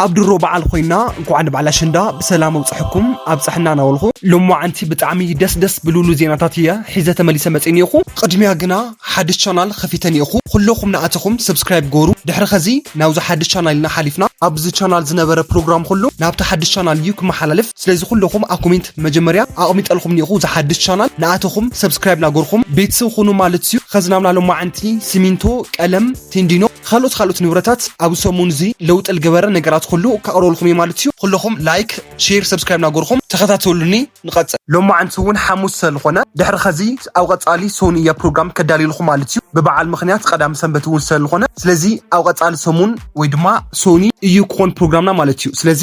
ኣብ ድሮ በዓል ኮይና እንኳዕ ንበዓል ኣሸንዳ ብሰላም ኣብፀሐኩም ኣብፀሐና ናበልኹ ሎማዓንቲ ብጣዕሚ ደስ ደስ ብልብሉ ዜናታት እየ ሒዘ ተመሊሰ መፅእ ኒኤኹ ቕድሚያ ግና ሓድሽ ቻናል ኸፊተ ኒኤኹ ኹለኹም ናኣተኹም ሰብስክራይብ ግበሩ ድሕሪ ኸዚ ናብዚ ሓድሽ ቻናል ኢና ሓሊፍና ኣብዚ ቻናል ዝነበረ ፕሮግራም ኹሉ ናብታ ሓድሽ ቻናል እዩ ክመሓላለፍ ስለዚ ኹለኹም ኣብ ኮሜንት መጀመርያ ኣቕሚጠልኹም ኒኤኹ እዛ ሓድሽ ቻናል ናኣተኹም ሰብስክራይብ ናገርኹም ቤተሰብ ኹኑ ማለት እዩ ኸዚ ናብና ሎማዓንቲ ሲሚንቶ ቀለም ቴንዲኖ ካልኦት ካልኦት ንብረታት ኣብ ሰሙን እዚ ለውጢ ልገበረ ነገራት ኩሉ ከቅርበልኩም እየ ማለት እዩ ኩለኹም ላይክ ሼር ሰብስክራይብ ናጎርኹም ተኸታተሉኒ ንቀፅል ሎማዓንቲ እውን ሓሙስ ሰለልኾነ ድሕሪ ኸዚ ኣብ ቀፃሊ ሰኑ እየ ፕሮግራም ከዳልየልኹም ማለት እዩ ብበዓል ምኽንያት ቀዳም ሰንበት እውን ሰለልኾነ ስለዚ ኣብ ቀፃሊ ሰሙን ወይ ድማ ሰኑ እዩ ክኾን ፕሮግራምና ማለት እዩ ስለዚ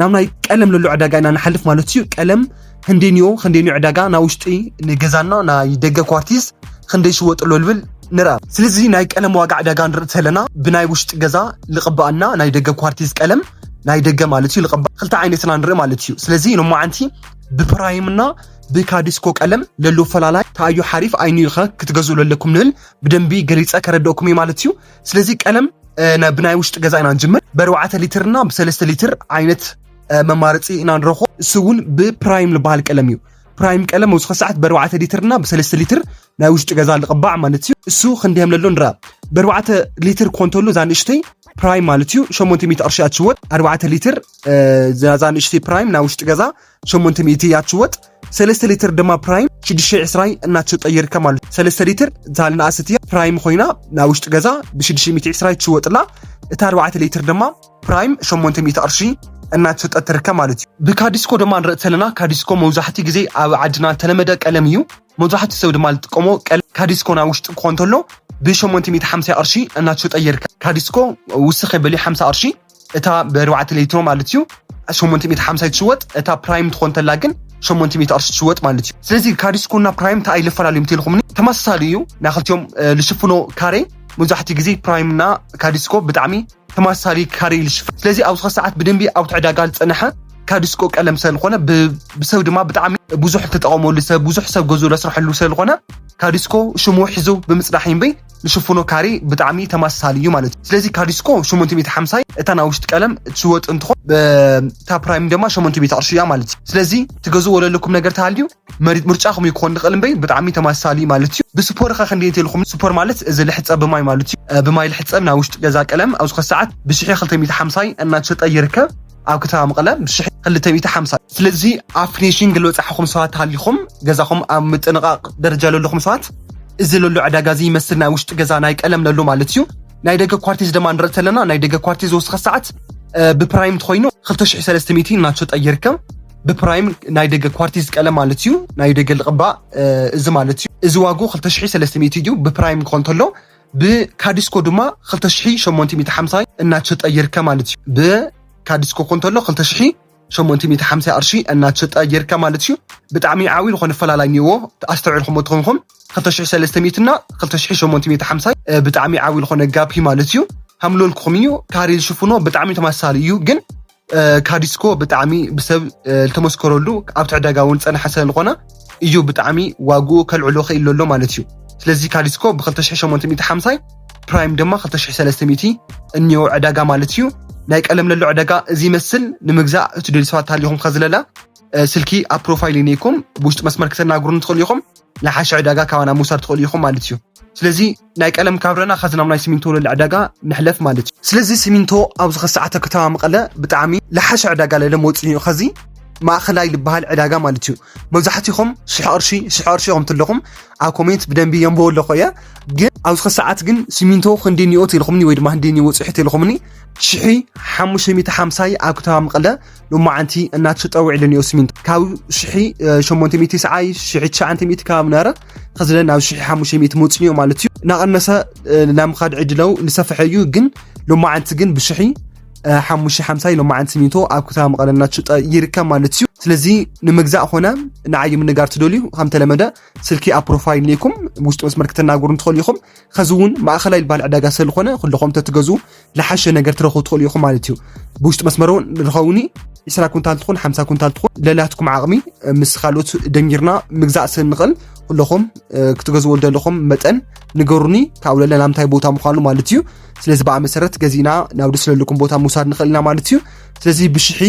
ናብ ናይ ቀለም ለሎ ዕዳጋ ኢና ንሓልፍ ማለት እዩ ቀለም ክንደይንዮ ክንደይንዮ ዕዳጋ ና ውሽጢ ንገዛና ናይ ደገ ኳርቲዝ ክንደይ ሽወጥሎ ልብል ንርኣ ስለዚ ናይ ቀለም ዋጋ ዕዳጋ ንርኢ ተለና ብናይ ውሽጢ ገዛ ልቕባኣና ናይ ደገ ኳርቲዝ ቀለም ናይ ደገ ማለት እዩ ልቕባ ክልተ ዓይነትና ንርኢ ማለት እዩ ስለዚ ሎማዓንቲ ብፕራይምና ብካዲስኮ ቀለም ለሎ ፈላላይ ታዩ ሓሪፍ ኣይንዩኸ ክትገዝኡ ለለኩም ንብል ብደንቢ ገሊፀ ከረድኦኩም እዩ ማለት እዩ ስለዚ ቀለም ብናይ ውሽጢ ገዛ ኢና ንጅምር ብኣርባዕተ ሊትር እና ብሰለስተ ሊትር ዓይነት መማረፂ ኢና ንረኽቦ እሱ እውን ብፕራይም ዝበሃል ቀለም እዩ ፕራይም ቀለም መብዝኸ ሰዓት ብኣርባዕተ ሊትር እና ብሰለስተ ሊትር ናይ ውሽጢ ገዛ ልቕባዕ ማለት እዩ እሱ ክንደየም ለሎ ንረኣ ብኣርባዕተ ሊትር ኮንተሉ እዛ ንእሽተይ ፕራይም ማለት እዩ ሸሞንተ ሚእቲ ቅርሺ ኣትሽወጥ ኣርባዕተ ሊትር እዛ ንእሽተይ ፕራይም ናይ ውሽጢ ገዛ ሸሞንተ ሚእቲ እያ ትሽወጥ ሰለስተ ሊትር ድማ ፕራይም ሽዱሽተ ዕስራይ እናተሸጠ ይርከብ ማለት እዩ። ሰለስተ ሊትር እታ ንኣሰት እያ ፕራይም ኮይና ናይ ውሽጢ ገዛ ብሽዱሽተ ሚእቲ ዕስራይ ትሽወጥላ እታ ኣርባዕተ ሊትር ድማ ፕራይም ሸሞንተ ሚእቲ ቅርሺ እናተሸጠት ትርከብ ማለት እዩ። ብካዲስኮ ድማ ንርኢ ተለና ካዲስኮ መብዛሕትኡ ግዜ ኣብ ዓድና ተለመደ ቀለም እዩ። መብዛሕትኡ ሰብ ድማ ዝጥቀሞ ቀለም ካዲስኮ ናይ ውሽጢ ክኾን ተሎ ብ850 ቅርሺ እናተሸጠ ይርከብ። ካዲስኮ ውስኽ የበሊ 50 ቅርሺ እታ ብኣርባዕተ ሌትሮ ማለት እዩ ሸሞንተ ሚእቲ ሓምሳ ትሽወጥ እታ ፕራይም ትኾን ተላ ግን ሸሞንተ ሚእቲ ቅርሺ ትሽወጥ ማለት እዩ ስለዚ ካሪስኮና ፕራይም እንታይ ኣይለፈላለዩም ተልኹምኒ ተመሳሳሊ እዩ ናይ ክልቲኦም ልሽፍኖ ካሬ መብዛሕትኡ ግዜ ፕራይም እና ካሪስኮ ብጣዕሚ ተመሳሳሊ ካሬ ልሽፍ ስለዚ ኣብዚ ሰዓት ብደንቢ ኣብ ትዕዳጋ ዝፀንሐ ካዲስኮ ቀለም ስለዝኾነ ብሰብ ድማ ብጣዕሚ ብዙሕ ተጠቐመሉ ሰብ ብዙሕ ሰብ ገዙ ለስርሐሉ ስለዝኾነ ካዲስኮ ሽሙ ሒዙ ብምፅናሕ ይንበይ ንሽፍኖ ካሬ ብጣዕሚ ተመሳሳሊ እዩ ማለት እዩ ስለዚ ካዲስኮ 850 እታ ናይ ውሽጢ ቀለም ትወጥ እንትኾን እታ ፕራይም ድማ 800 ቅርሺ እያ ማለት እዩ ስለዚ ትገዝዎ ዘለኩም ነገር ተሃልዩ ምርጫኹም እዩ ክኾን ንኽእል እምበይ ብጣዕሚ ተመሳሳሊ እዩ ማለት እዩ ብስፖር ኸ ክንደይ እንተልኩም ስፖር ማለት እዚ ልሕፀብ ብማይ ማለት እዩ ብማይ ልሕፀብ ናይ ውሽጢ ገዛ ቀለም ኣብዚ ኸ ሰዓት ብሽሒ 250 እናተሸጠ ይርከብ ኣብ ከተማ መቐለ ምስ ሽሕ ክልተ ሚእቲ ሓምሳ ስለዚ ኣብ ፊኒሽንግ ዝበፃሕኹም ሰባት ሃሊኹም ገዛኹም ኣብ ምጥንቓቕ ደረጃ ዘለኹም ሰባት እዚ ለሎ ዕዳጋ እዚ ይመስል ናይ ውሽጢ ገዛ ናይ ቀለም ለሎ ማለት እዩ ናይ ደገ ኳርቲዝ ድማ ንርኢ ተለና ናይ ደገ ኳርቲዝ ዝወስኸ ሰዓት ብፕራይም ትኮይኑ 2300 እናተሸጠ ይርከብ ብፕራይም ናይ ደገ ኳርቲዝ ቀለም ማለት እዩ ናይ ደገ ልቕባእ እዚ ማለት እዩ እዚ ዋጉ 2300 እዩ ብፕራይም ክኾን ተሎ ብካዲስኮ ድማ ክልተ ሽሕ ሸሞንተ ሚእቲ ሓምሳ እናተሸጠ ይርከብ ማለት እዩ። ብካዲስኮ ኮንተሎ ክልተ ሽሕ ሸሞንተ ሚእቲ ሓምሳ ቅርሺ እናተሸጠ ይርከብ ማለት እዩ። ብጣዕሚ ዓብዪ ዝኾነ ፈላላይ እኒኦዎ ኣስተውዒልኩሞ ተኾንኩም ክልተ ሽሕ ሰለስተ ሚእቲ እና ክልተ ሽሕ ሸሞንተ ሚእቲ ሓምሳ ብጣዕሚ ዓብዪ ዝኾነ ጋፕ ማለት እዩ። ከምለልኩኹም እዩ ካሬ ዝሽፍኖ ብጣዕሚ ተመሳሳሊ እዩ ግን ካዲስኮ ብጣዕሚ ብሰብ ዝተመስከረሉ ኣብቲ ዕዳጋ እውን ዝፀንሐ ስለዝኾነ እዩ ብጣዕሚ ዋግኡ ከልዕሎ ክኢሉ ኣሎ ማለት እዩ ስለዚ ካዲስኮ ብ2850 ፕራይም ድማ 2300 እኒኦ ዕዳጋ ማለት እዩ ናይ ቀለም ለሎ ዕዳጋ እዚ ይመስል ንምግዛእ እትደልዩ ሰባት ተሃሊኹም ከዝለላ ስልኪ ኣብ ፕሮፋይል ይነይኩም ብውሽጢ መስመር ክተናግሩን ትኽእሉ ኢኹም ናይ ሓሸ ዕዳጋ ካባና ምውሳድ ትኽእሉ ኢኹም ማለት እዩ ስለዚ ናይ ቀለም ካብ ረና ከዚ ናብ ናይ ሲሚንቶ ለለ ዕዳጋ ንሕለፍ ማለት እዩ ስለዚ ሲሚንቶ ኣብዚ ከሰዓተ ከተማ መቐለ ብጣዕሚ ለሓሸ ዕዳጋ ለለ መወፅኡ እዩ ከዚ ማእኸላይ ዝበሃል ዕዳጋ ማለት እዩ መብዛሕትኹም ሽሕ ቅርሺ ሽሕ ቅርሺ ኢኹም ትለኹም ኣብ ኮሜንት ብደንቢ የንብቦ ኣለኹ እየ ግን ኣብዚ ከሰዓት ግን ሲሚንቶ ክንዲ ኒኦ ተልኹምኒ ወይ ድማ ክንዲ ኒኦ ፅሒ ተልኹምኒ ሽሒ ሓሙሽተ ሚእቲ ሓምሳይ ኣብ ከተማ መቐለ ሎማዓንቲ እናተሸጠ ውዒሉ ኒኦ ሲሚንቶ ካብ ሽሒ ሸሞንተ ሚእቲ ሰዓይ ሽሒ ትሽዓንተ ሚእቲ ከባቢ ነበረ ከዝለ ናብ ሽሕ ሓሙሽተ ሚእቲ መውፅን እዩ ማለት እዩ እናቐነሰ ናይ ምኻድ ዕድለው ንሰፍሐ እዩ ግን ሎማዓንቲ ግን ብሽሒ ሓሙሽተ ሓምሳ ሎማዓንቲ ሚቶ ኣብ ከተማ መቐለ እናተሸጠ ይርከብ ማለት እዩ ስለዚ ንምግዛእ ኮነ ንዓይ ምንጋር ትደልዩ ከምተለመደ ስልኪ ኣብ ፕሮፋይል ኒኩም ውሽጢ መስመር ክተናገሩ እንትኽእሉ ኢኹም ከዚ እውን ማእኸላይ ዝበሃል ዕዳጋ ስለዝኾነ ኩልኹም ተትገዙ ልሓሸ ነገር ትረኽቡ ትኽእሉ ኢኹም ማለት እዩ ብውሽጢ መስመር እውን ንኸውኒ 20 ኩንታል ትኹን 50 ኩንታል ትኹን ለላትኩም ዓቕሚ ምስ ካልኦት ደንጊርና ምግዛእ ስንኽእል ኩለኹም ክትገዝዎ ዘለኹም መጠን ንገሩኒ ካብኡ ለለ ናብ እንታይ ቦታ ምዃኑ ማለት እዩ ስለዚ በኣ መሰረት ገዚእና ናብ ደስ ለልኩም ቦታ ምውሳድ ንኽእል ኢና ማለት እዩ ስለዚ ብሽሒ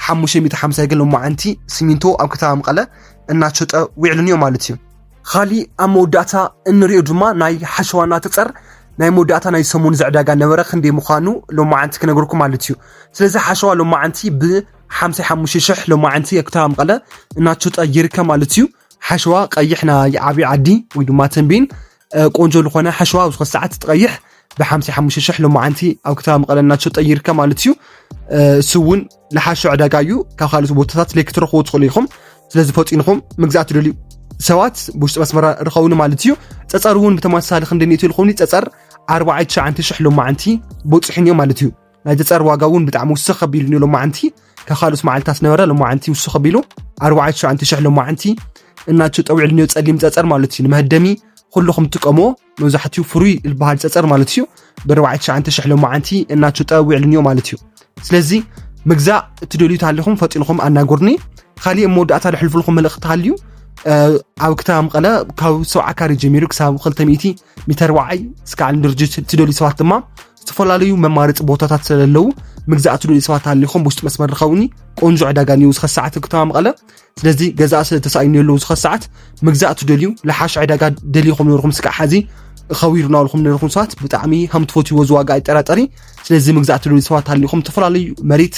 550 ግን ሎማዓንቲ ሲሚንቶ ኣብ ከተማ መቐለ እናሸጠ ዊዕሉን እዮ ማለት እዩ ኻሊእ ኣብ መወዳእታ እንሪኦ ድማ ናይ ሓሸዋ እናተፀር ናይ መወዳእታ ናይ ሰሙን ዝዕዳጋ ነበረ ክንደይ ምዃኑ ሎማዓንቲ ክነግርኩም ማለት እዩ ስለዚ ሓሸዋ ሎማዓንቲ ብ55 ሽሕ ሎማዓንቲ የክተራ መቐለ እናተሸጠ ይርከብ ማለት እዩ ሓሸዋ ቀይሕ ናይ ዓብዪ ዓዲ ወይ ድማ ተንቤን ቆንጆ ዝኾነ ሓሸዋ ኣብ ዝኾነ ሰዓት ትቐይሕ ብ55 ሽሕ ሎማዓንቲ ኣብ ከተማ መቐለ እናተሸጠ ይርከብ ማለት እዩ እሱ እውን ልሓሾ ዕዳጋ እዩ ካብ ካልኦት ቦታታት ለይ ክትረኽቡ ትኽእሉ ኢኹም ስለዚ ፈጢንኹም ምግዛእ ትደልዩ ሰባት ብውሽጢ መስመራ ርኸቡኒ ማለት እዩ ፀፀር እውን ብተመሳሳሊ ክንደ ኒእቱ ልኹኒ ፀፀር 49000 ሎማዓንቲ ቦፅሒን እዮም ማለት እዩ ናይ ፀፀር ዋጋ እውን ብጣዕሚ ውስኽ ከቢሉ እዩ ሎማዓንቲ ካብ ካልኦት መዓልታት ነበረ ሎማዓንቲ ውስኽ ከቢሉ 49000 ሎማዓንቲ እናቸው ጠዊዕሉ ኒዮ ፀሊም ፀፀር ማለት እዩ ንመህደሚ ኩልኹም ትጥቀምዎ መብዛሕትኡ ፍሩይ ዝበሃል ፀፀር ማለት እዩ ብኣርባዕተ ትሽዓተ ሽሕ ሎማዓንቲ እናትሽጠ ውዕልን እዮ ማለት እዩ ስለዚ ምግዛእ እትደልዩ ተሃሊኹም ፈጢንኹም ኣናጎርኒ ካሊእ መወዳእታ ዝሕልፍልኹም መልእኽቲ ተሃልዩ ኣብ ከተማ መቐለ ካብ ሰው ዓካሪ ጀሚሩ ክሳብ 200 ሚተር ዋዓይ እስከ ዓለም ድርጅት እትደልዩ ሰባት ድማ ዝተፈላለዩ መማረፂ ቦታታት ስለዘለዉ ምግዛእ እትደልዩ ሰባት ተሃሊኹም ብውሽጢ መስመር ርኸቡኒ ቆንጆ ዕዳጋ እዩ እስከ ሰዓት ከተማ መቐለ ስለዚ ገዛእ ስለ ተሳኢኑ የለው ዝኸ ሰዓት ምግዛእ ትደልዩ ለሓሽ ዕዳጋ ደሊኹም ነርኹም ስካዕ ሓዚ ኸዊሩ ናብልኹም ነርኹም ሰባት ብጣዕሚ ሃም ትፈትዎ ዝዋጋ ኣይጠራጠሪ ስለዚ ምግዛእ ትደልዩ ሰባት ኣሊኹም ዝተፈላለዩ መሬት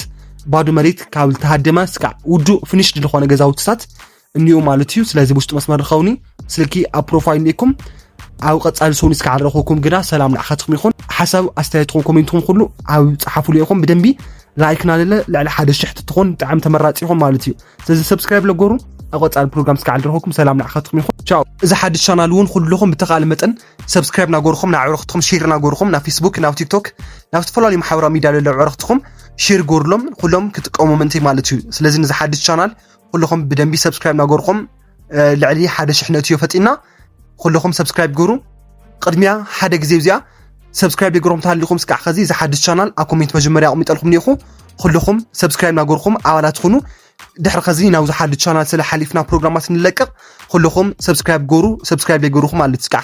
ባዶ መሬት ካብ ዝተሃደመ ስካዕ ውዱእ ፍንሽ ድልኾነ ገዛውትታት እኒኡ ማለት እዩ ስለዚ ውሽጢ መስመር ኸውኒ ስልኪ ኣብ ፕሮፋይል ኒኩም ኣብ ቀፃሊ ሰውኒ ስካዕ ረኹኩም ግና ሰላም ንዓኻትኩም ይኹን ሓሳብ ኣስተያየትኩም ኮሜንትኩም ኩሉ ኣብ ፀሓፉሉ ኢኹም ብደንቢ ላይክና ልለ ልዕሊ ሓደ ሽሕ ትትኾን ብጣዕሚ ተመራፂ ይኹን ማለት እዩ ስለዚ ሰብስክራይብ ለጎሩ ኣብ ቀፃሊ ፕሮግራም ስካዕ ድረኸኩም ሰላም ንዓኻትኩም ይኹን ቻው እዚ ሓድሽ ቻናል እውን ኩልኹም ብተኻእለ መጠን ሰብስክራይብ ናገርኹም ናብ ዕረኽትኹም ሼር ናገርኹም ናብ ፌስቡክ ናብ ቲክቶክ ናብ ዝተፈላለዩ ማሕበራዊ ሚዲያ ለለ ዕረኽትኹም ሼር ጎርሎም ኩሎም ክጥቀሙ ምእንቲ ማለት እዩ ስለዚ ንዚ ሓድሽ ቻናል ኩልኹም ብደንቢ ሰብስክራይብ ናገርኹም ልዕሊ ሓደ ሽሕ ነእትዮ ፈጢና ኩልኹም ሰብስክራይብ ግብሩ ቅድሚያ ሓደ ግዜ እዚኣ ሰብስክራይብ የግሮም ተሃሊኹም ስካዕ ከዚ እዚ ሓድሽ ቻናል ኣብ ኮሜንት መጀመርያ ኣቕሚጠልኩም ኒኹ ኩልኹም ሰብስክራይብ ናገርኹም ኣባላት ትኹኑ ድሕሪ ከዚ ናብዚ ሓድሽ ቻናል ስለ ሓሊፍና ፕሮግራማት ንለቅቕ ኩልኹም ሰብስክራይብ ገሩ ሰብስክራይብ የገሩኹም ማለት ስካዕ